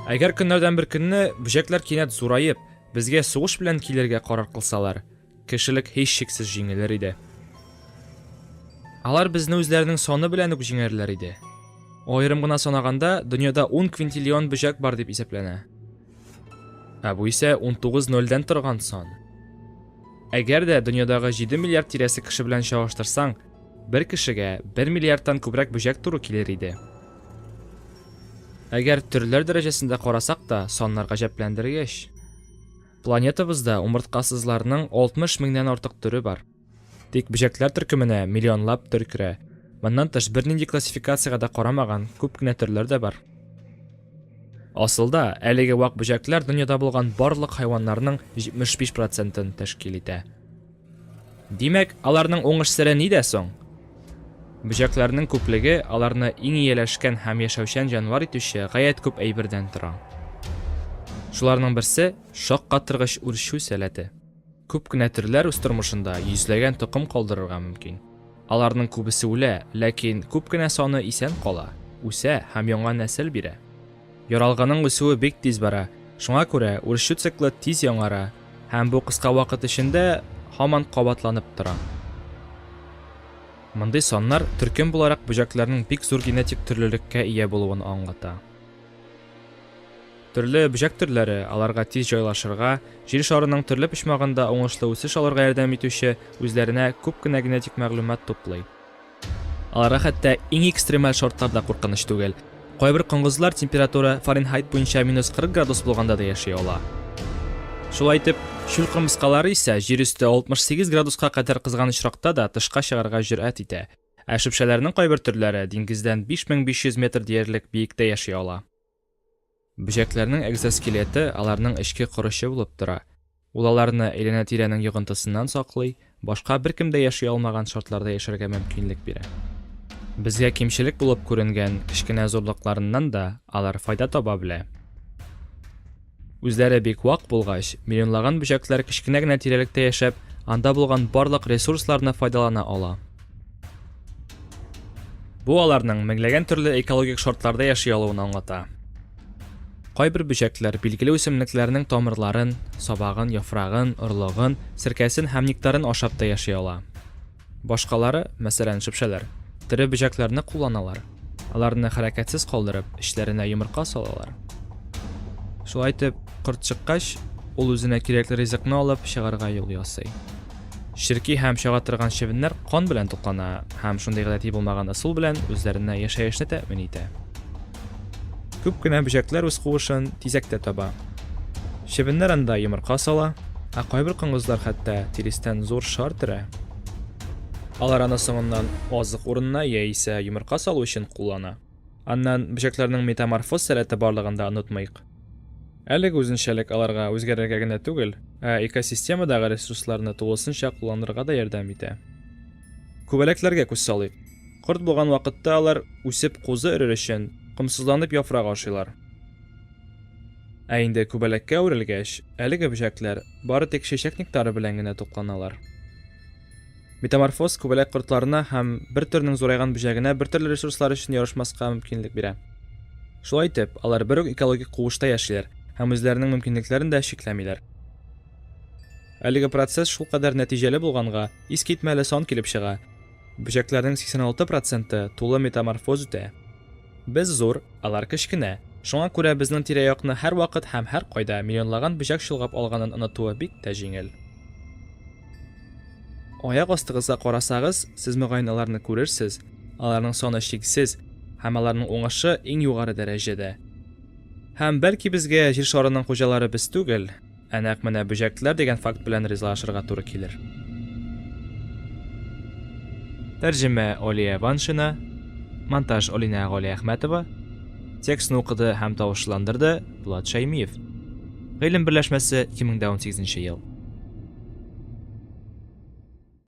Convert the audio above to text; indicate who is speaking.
Speaker 1: Әгәр көннәрдән бер көнне бөҗәкләр кинәт зураеп, безгә сугыш белән килергә карар кылсалар, кешелек һичшиксез җиңелер иде. Алар безне үзләренең саны белән үк җиңәрләр иде. Аерым гына санаганда, дөньяда 10 квинтиллион бөҗәк бар дип исәпләнә. Ә бу исә 19 нольдән торган сан. Әгәр дә дөньядагы 7 миллиард тирәсе кеше белән чагыштырсаң, бер кешегә 1 миллиардтан күбрәк бөҗәк туры килер иде. Әгәр төрләр дәрәҗәсендә карасак та, саннар гаҗәпләндергеч. Планетабызда умырткасызларның 60 меңнән артык төре бар. Тик бөҗәкләр төркеменә миллионлап төр керә. Моннан тыш бернинди классификациягә дә карамаган күп кенә төрләр дә бар. Асылда, әлеге вак бөҗәкләр дөньяда булган барлык хайваннарның 75 процентын тәшкил итә. Димәк, аларның уңыш сере нидә соң? Бөҗәкләрнең күплеге аларны иң ияләшкән һәм яшәүчән җанвар итүче гаять күп әйбердән тора. Шуларның берсе шаккатыргыч үрчү сәләте. Күп кенә төрләр үз тормышында йөзләгән токым калдырырга мөмкин. Аларның күбесе үлә, ләкин күп кенә саны исән кала, үсә һәм яңа нәсел бирә. Яралгының үсүе бик тиз бара, шуңа күрә үрчү циклы тиз яңара һәм бу кыска вакыт эчендә һаман кабатланып тора. Мондый саннар төркем буларак бөҗәкләрнең бик зур генетик төрлелеккә ия булуын аңлата. Төрле бөҗәк төрләре, аларга тиз җайлашырга, җир шарының төрле почмагында уңышлы үсеш алырга ярдәм итүче, үзләренә күп кенә генетик мәгълүмат туплый. Аларга хәтта иң экстремаль шартлар да куркыныч түгел. Кайбер коңгызлар температура Фаренхайт буенча минус 40 градус булганда да яши ала. Шулай итеп, чүл кырмыскалары исә җир өсте 68 градуска кадәр кызган очракта да тышка чыгарга җөрьәт итә. Ә шөпшәләрнең кайбер төрләре диңгездән 5500 метр диярлек биектә яши ала. Бөҗәкләрнең экзоскелеты аларның эчке корычы булып тора. Ул аларны әйләнә-тирәнең йогынтысыннан саклый, башка беркем дә яши алмаган шартларда яшәргә мөмкинлек бирә. Безгә кимчелек булып күренгән кечкенә зурлыкларыннан да алар файда таба белә. Үзләре бик вак булгач, миллионлаган бөҗәкләр кечкенә генә тирәлектә яшәп, анда булган барлык ресурсларны файдалана ала. Бу аларның меңләгән төрле экологик шартларда яши алуын аңлата. Кайбер бөҗәкләр билгеле үсемлекләрнең тамырларын, сабагын, яфрагын, орлыгын, серкәсен һәм нектарын ашап та яши ала. Башкалары, мәсәлән, шөпшәләр, тере бөҗәкләрне кулланалар. Аларны хәрәкәтсез калдырып, эчләренә йомырка салалар. Шулай итеп, корт чыккач, ул үзенә кирәкле ризыкны алып чыгарга юл ясый. Черки һәм чага торган чебеннәр кан белән туклана һәм шундый гадәти булмаган ысул белән үзләренә яшәешне тәэмин итә. Күп кенә бөҗәкләр үз куышын тизәктә таба. Чебеннәр анда йомырка сала, ә кайбер коңгызлар хәтта тирестән зур шар төрә. Алар аны соңыннан азык урынына яисә йомырка салу өчен куллана. Аннан бөҗәкләрнең метаморфоз сәләте барлыгын да онытмыйк. Әлеге үзенчәлек аларга үзгәрергә генә түгел, ә экосистемадагы ресурсларны тулысынча кулланырга да ярдәм итә. Күбәләкләргә күз салыйк. Корт булган вакытта алар, үсеп кузы өрер өчен, комсызланып яфрак ашыйлар. Ә инде күбәләккә үрелгәч, әлеге бөҗәкләр бары тик чәчәк нектары белән генә тукланалар. Метаморфоз күбәләк кортларына һәм бер төрнең зурайган бөҗәгенә бертөрле ресурслар өчен ярышмаска мөмкинлек бирә. Шулай итеп, алар бер үк экологик куышта яшиләр һәм үзләренең мөмкинлекләрен дә чикләмиләр. Әлеге процесс шулкадәр нәтиҗәле булганга, искитмәле сан килеп чыга, бөҗәкләрнең 86 проценты тулы метаморфоз үтә. Без зур, алар кечкенә. Шуңа күрә безнең тирә-якны һәрвакыт һәм һәркайда миллионлаган бөҗәк чолгап алганын онытуы бик тә җиңел. Аяк астыгызга карасагыз, сез мөгаен аларны күрерсез, аларның саны чиксез һәм аларның уңышы иң югары дәрәҗәдә. Һәм бәлки безгә Җир шарының хуҗалары без түгел, Ә нәкъ менә бөҗәкләр дигән факт белән ризалашырга туры килер. Тәрҗемә Олия Ваншина, монтаж Олинә Галиәхмәтова, текстны укыды һәм тавышландырды Булат Шәймиев. Гыйлем берләшмәсе, 2018 ел.